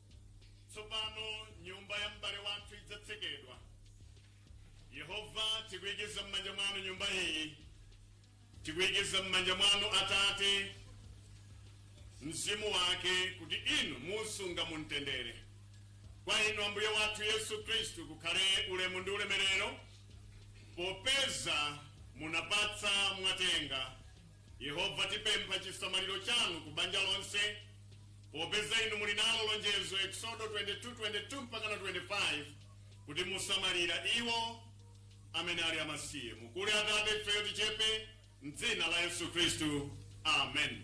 tsopano nyumba ya m'bale wathu idzatsekedwa yehova tikuyikiza m'manja mwanu nyumba iyi tikuyikiza m'manja mwanu atate mzimu wake kuti inu muusunga mumtendere kwa inu ambuye wathu yesu khristu kukhale ulemu ndi ulemerero popeza munapatsa mwatenga Yehova, tipempha chisamaliro chanu ku banja lonse, popeza inu muli nalo lonjezo, Eksodo 22:22 mpaka 25, kuti musamalira iwo amene ali amasiye. Mukule Atate, ifeyo tichepe, m'dzina la Yesu Khristu, amen.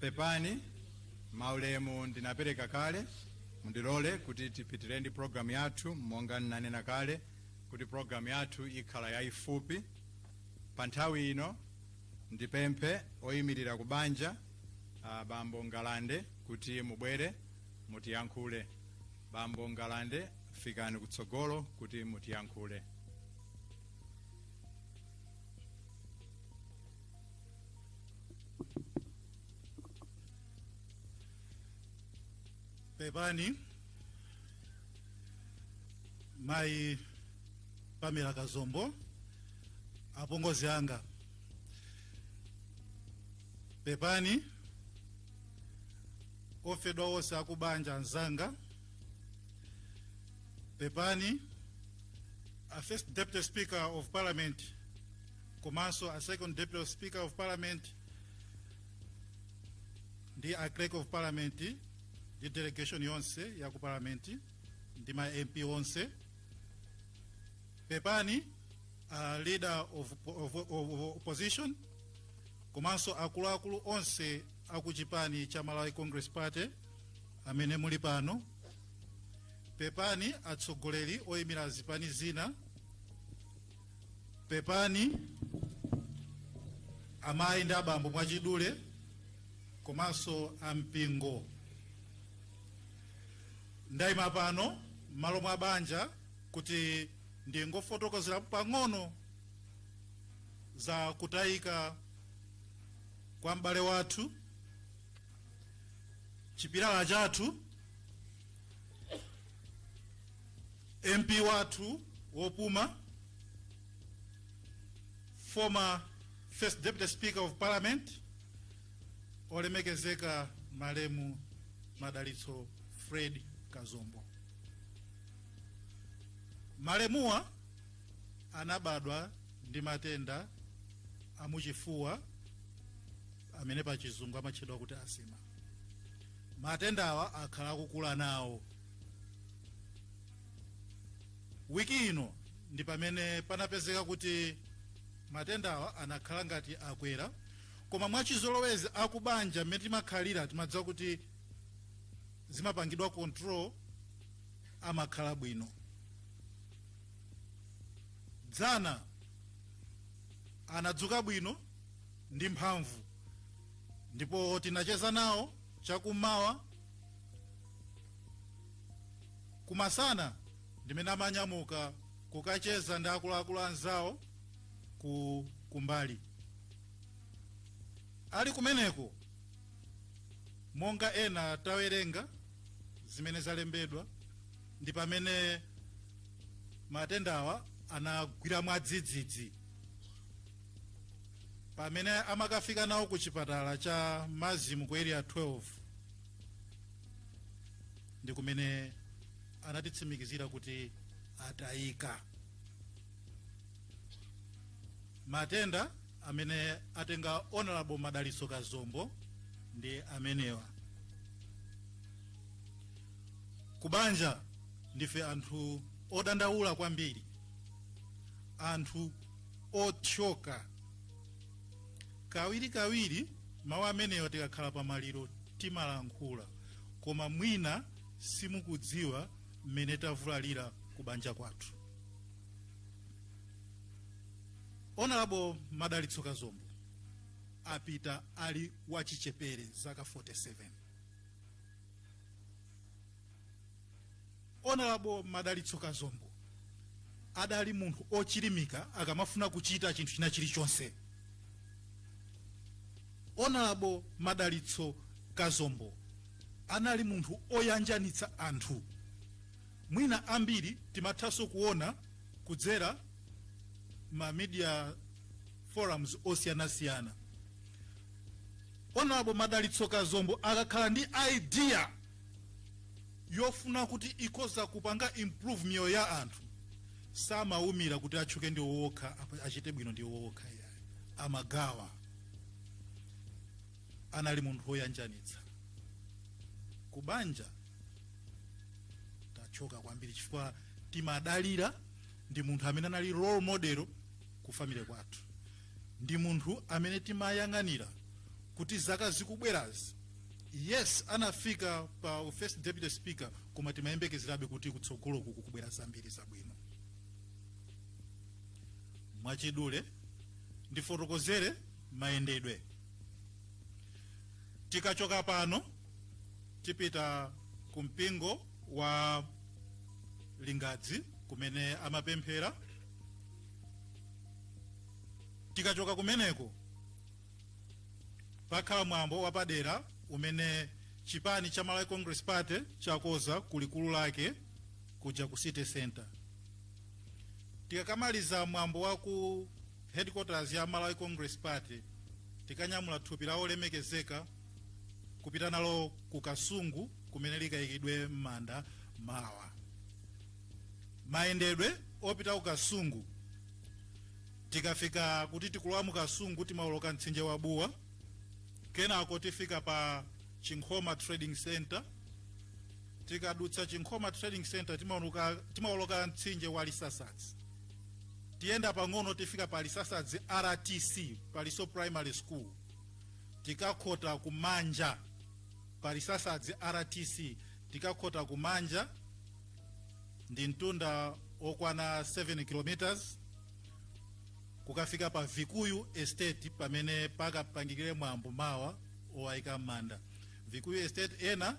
pepani maulemu ndinapereka kale mundilole kuti tipitire ndi programu yathu monga ndinanena kale kuti programu yathu ikhala yayifupi pa nthawi ino ndipemphe oyimirira ku banja bambo ngalande kuti mubwere mutiyankhule bambo ngalande fikani kutsogolo kuti mutiyankhule pepani mayi pamela kazombo apongozi anga pepani ofedwa onse akubanja anzanga pepani a first deputy speaker of parliament komanso a second deputy speaker of parliament ndi a clerk of parliament ndi delegation yonse ya ku parliament ndi ma mp onse pepani a leader of, of, of opposition komanso akuluakulu onse akuchipani cha Malawi Congress Party amene muli pano, pepani atsogoleri oyimira zipani zina, pepani amayi ndi abambo mwachidule komanso ampingo. Ndayima pano m'malo mwa banja kuti ndingofotokozera pang'ono za kutayika kwa m'bale wathu chipilala chathu mp wathu wopuma former first deputy speaker of parliament olemekezeka malemu madalitso fred kazombo malemuwa anabadwa ndi matenda amuchifuwa amene pa chizungu amatchedwa kuti asima matendawa akhala akukula nawo wiki ino ndi pamene panapezeka kuti matendawa anakhala ngati akwera koma mwachizolowezi akubanja mmene timakhalira timadziwa kuti zimapangidwa control amakhala bwino dzana anadzuka bwino ndi mphamvu ndipo tinacheza nawo chakummawa kumasana ndimene amanyamuka kukacheza ndi akuluakulu anzawo ku kumbali ali kumeneko monga ena tawerenga zimene zalembedwa ndi pamene matendawa anagwira mwadzidzidzi pamene amakafika nawo ku chipatala cha mazimu ku area 12 ndi kumene anatitsimikizira kuti atayika matenda amene atenga honorable madalitso kazombo ndi amenewa kubanja ndife anthu odandaula kwambiri anthu othyoka kawirikawiri mawu amenewa tikakhala pa maliro timalankhula koma mwina simukudziwa mmene tavulalira kubanja kwathu onalabo madalitso kazombo apita ali wachichepere zaka 47 honorable madalitso kazombo adali munthu ochilimika akamafuna kuchita chinthu china chilichonse honorable madalitso kazombo anali munthu oyanjanitsa anthu mwina ambiri timathanso kuona kudzera ma media forums osiyanasiyana honorable Madalitso Kazombo akakhala ndi idea yofuna kuti ikhoza kupanga improve miyoyo ya anthu samawumira kuti atchuke ndi iwo okha achite bwino ndi iwo okha iyayi amagawa anali munthu woyanjanitsa kubanja tathyoka kwambiri chifukwa timadalira ndi munthu amene anali role model ku family kwathu ndi munthu amene timayang'anira kuti zaka zikubwerazi yes anafika pa u first deputy speaker koma timayembekezerabe kuti kutsogoloku kukubwera zambiri zabwino mwachidule ndifotokozere mayendedwe tikachoka pano tipita ku mpingo wa lingadzi kumene amapemphera tikachoka kumeneko pakhala mwambo wapadera umene chipani cha malawi congress party chakoza ku likulu lake kuja ku city center tikakamaliza mwambo wa ku headquarters ya malawi congress party tikanyamula thupi la olemekezeka kupita nalo ku kasungu kumene likayikidwe m'manda mawa mayendedwe opita ku kasungu tikafika kuti tikulowa mu kasungu timaoloka mtsinje wa buwa kenako tifika pa chinkhoma trading center tikadutsa chinkhoma trading center timaoloka mtsinje wa lisasadzi tiyenda pang'ono tifika pa lisasadzi rtc paliso primary school tikakhota kumanja pa lisasadzi rtc tikakhota kumanja ndi mtunda okwana 7 km kukafika pa vikuyu estate pamene pakapangikire mwambo mawa owayika m'manda vikuyu estate ena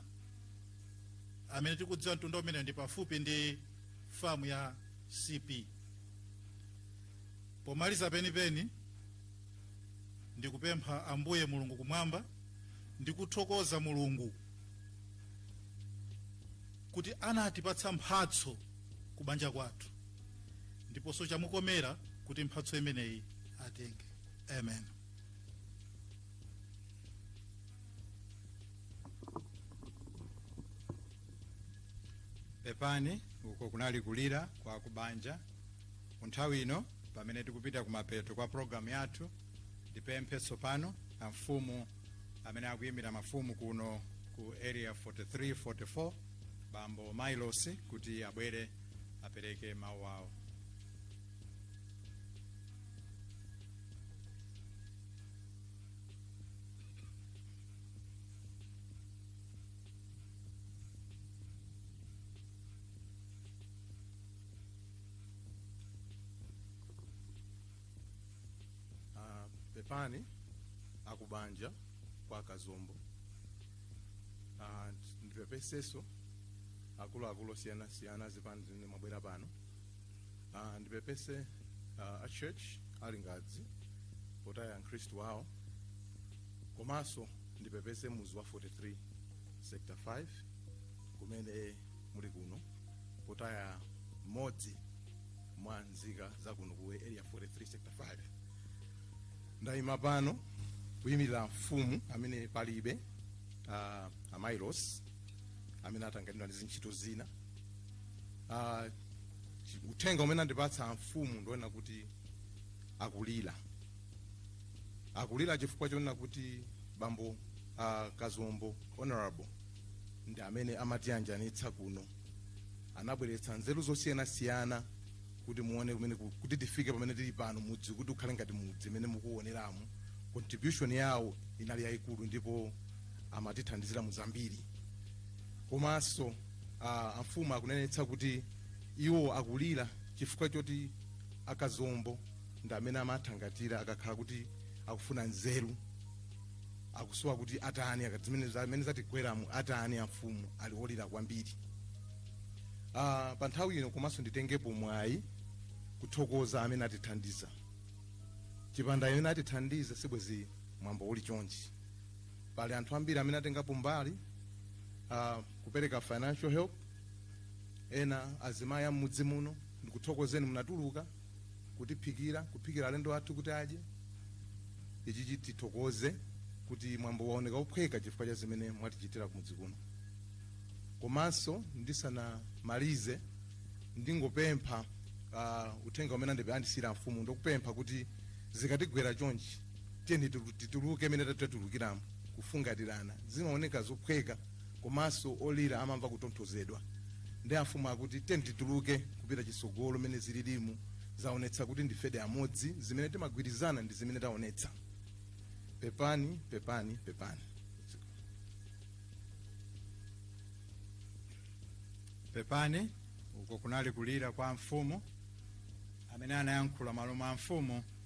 amene tikudziwa mtunda umeneyo ndi pafupi ndi famu ya cp pomaliza penipeni ndikupempha ambuye mulungu kumwamba ndikuthokoza mulungu kuti anatipatsa mphatso ku banja kwathu ndiponso chamukomera kuti mphatso imeneyi atenge amen pepani uko kunali kulira kwa kubanja nthawi ino pamene tikupita kumapeto kwa programu yathu ndipemphe tsopano amfumu amene akuyimira mafumu kuno ku area 43 44 bambo mailosi kuti abwere apereke mawu awo Ah, pepani akubanja kwa kazombo Ah, ndipepeseso akuluakulu osiyanasiyana zipani zimene mwabwera pano Ah, ndipepese ah, a church a Lingadzi potaya mkhristu wawo komanso ndipepese muzi wa 43 sector 5 kumene muli kuno potaya mmodzi mwa nzika za kuno ku area 43 sector 5 ndayima pano kuyimirira mfumu amene palibe uh, a Mailosi amene atanganidwa ndi zintchito zina uh, uthenga umene andipatsa amfumu ndi wonena kuti akulira akulira chifukwa chonena kuti bambo uh, kazombo honorable ndi amene amatiyanjanitsa kuno anabweretsa nzeru zosiyanasiyana kuti muone kumene ku- kuti tifike pamene tili pano mudzi kuti ukhale ngati mudzi mmene mukuoneramu contribution yawo inali yayikulu ndipo amatithandizira mu zambiri komanso uh, amfumu akunenetsa kuti iwo akulira chifukwa choti akazombo ndi amene amathangata akakhala kuti akufuna nzeru akusowa kuti atani zimene zimene zatigweramu atani amfumu ali olira kwambiri uh, pa nthawi ino komanso nditengepo mwayi kuthokoza amene atithandiza chipanda amene atithandiza sibwezi mwambo uli chonchi pali anthu ambiri amene atengapo mbali uh, kupereka financial help ena azimayi am'mudzi muno ndikuthokozeni munatuluka kutiphikira, kuphikira alendo athu kuti adye. Ichi chitithokoze kuti mwambo waoneka ophweka chifukwa cha zimene mwatichitira kumudzi kuno. Komanso ndisanamalize ndingopempha uh, uthenga umene andipe andisiyira amfumu ndokupempha kuti zikatigwera chonchi tiyeni titu- tituluke mmene tatulukiramo kufungatirana zimaoneka zophweka komanso olira amamva kutonthozedwa ndi amfumu akuti tiyeni tituluke kupita chisogolo mene zililimu zaonetsa kuti ndifedi amodzi zimene timagwirizana ndi zimene taonetsa pepani pepani pepani pepani uko kunali kulira kwa mfumu amene anayankhula mmalo mwa mfumu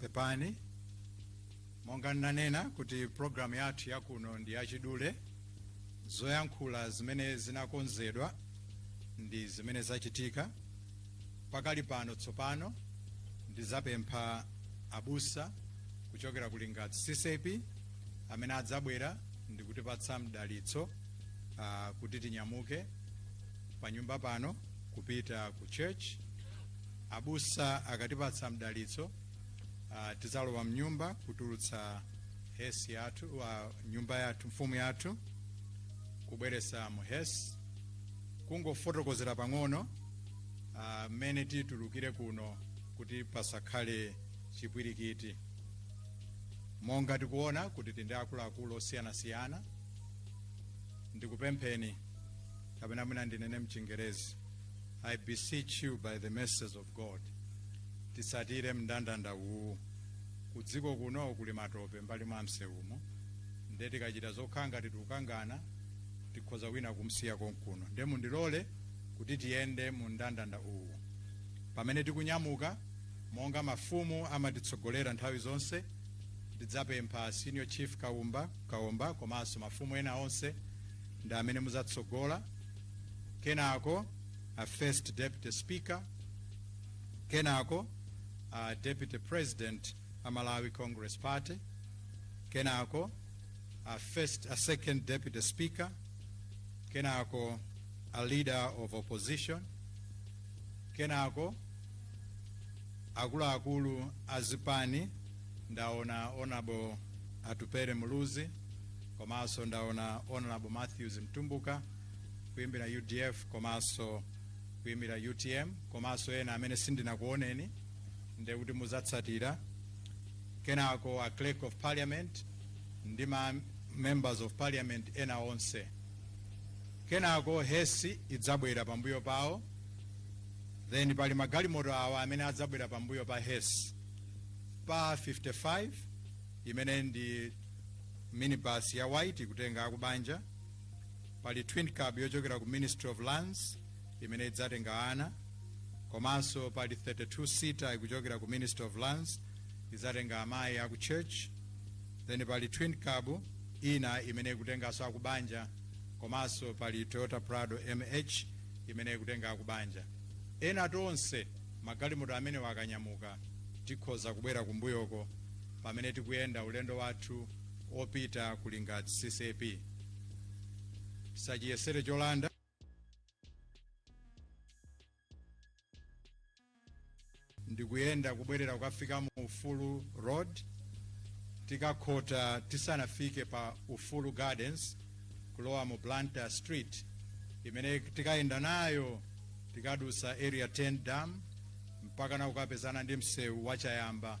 pepani monga ndinanena kuti programu yathu yakuno ndi yachidule zoyankhula zimene zinakonzedwa ndi zimene zachitika pakali pano tsopano ndizapempha abusa kuchokera ku lingadzi ccap amene adzabwera ndikutipatsa mdalitso uh, kuti tinyamuke panyumba pano kupita ku church abusa akatipatsa mdalitso uh, tizalowa mnyumba kutulutsa hesi yathu uh, nyumba yathu mfumu yathu kubweresa mu hesi kungofotokozera pang'ono ah, mmene uh, titulukire kuno kuti pasakhale chipwirikiti monga tikuona kuti tindi akuluakulu osiyanasiyana ndikupempheni kapena mwina ndinene mchingerezi i beseech you by the mercies of god tisatire mndandanda uwu kudziko kuno kuli matope mbali mwa msewumo nde tikachita zokhanga titukangana tikhoza wina kumsiya konkuno nde mundilole kuti tiyende mu mndandanda uwu pamene tikunyamuka monga mafumu amatitsogolera nthawi zonse tidzapempha senior chief kaomba komanso mafumu ena onse ndi amene muzatsogola kenako a first deputy speaker kenako a deputy president a malawi congress party kenako a second deputy speaker kenako a leader of opposition kenako akuluakulu a zipani ndaona honorable atupere muluzi komanso ndaona honorable matthews mtumbuka kuimira udf komanso kuimira utm komanso ena amene sindinakuoneni nde kuti muzatsatira kenako a clerk of parliament ndi ma members of parliament ena onse kenako hesi idzabwera pambuyo pawo then pali magalimoto awa amene adzabwera pambuyo pa hesi pa 55 imene ndi minibus ya white ikutenga akubanja pali twin cab yochokera ku ministry of lands imene idzatenga ana komanso pali 32 seater ikuchokera ku ministry of lands idzatenga amayi aku church then pali twin cab ina imene ikutenganso akubanja komanso pali toyota prado mh imene ikutenga akubanja ena tonse magalimoto amenewa akanyamuka tikhoza kubwera kumbuyoko pamene tikuyenda ulendo wathu opita ku lingadzi ccap tisachiyesere cholanda ndikuyenda kubwerera kukafika mu ufulu road tikakhota tisanafike pa ufulu gardens kulowa mu blantyre street imene tikayenda nayo tikadusa area 10 dam mpaka na kukapezana ndi msewu wa chayamba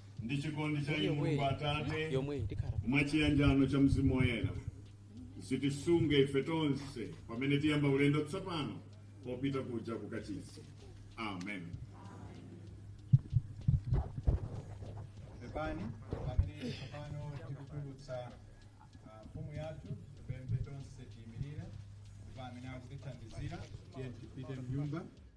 ndi chikondi cha Mulungu Atate mwa chiyanjano cha mzimu woyera zitisunge ife tonse pamene tiyamba ulendo tsopano opita kuja ku kachisi amen pepani pamene tsopano tikutulutsa ah, mfumu yathu pembe tonse tiyimirire ndipo amene akutithandizira tiye tipite mnyumba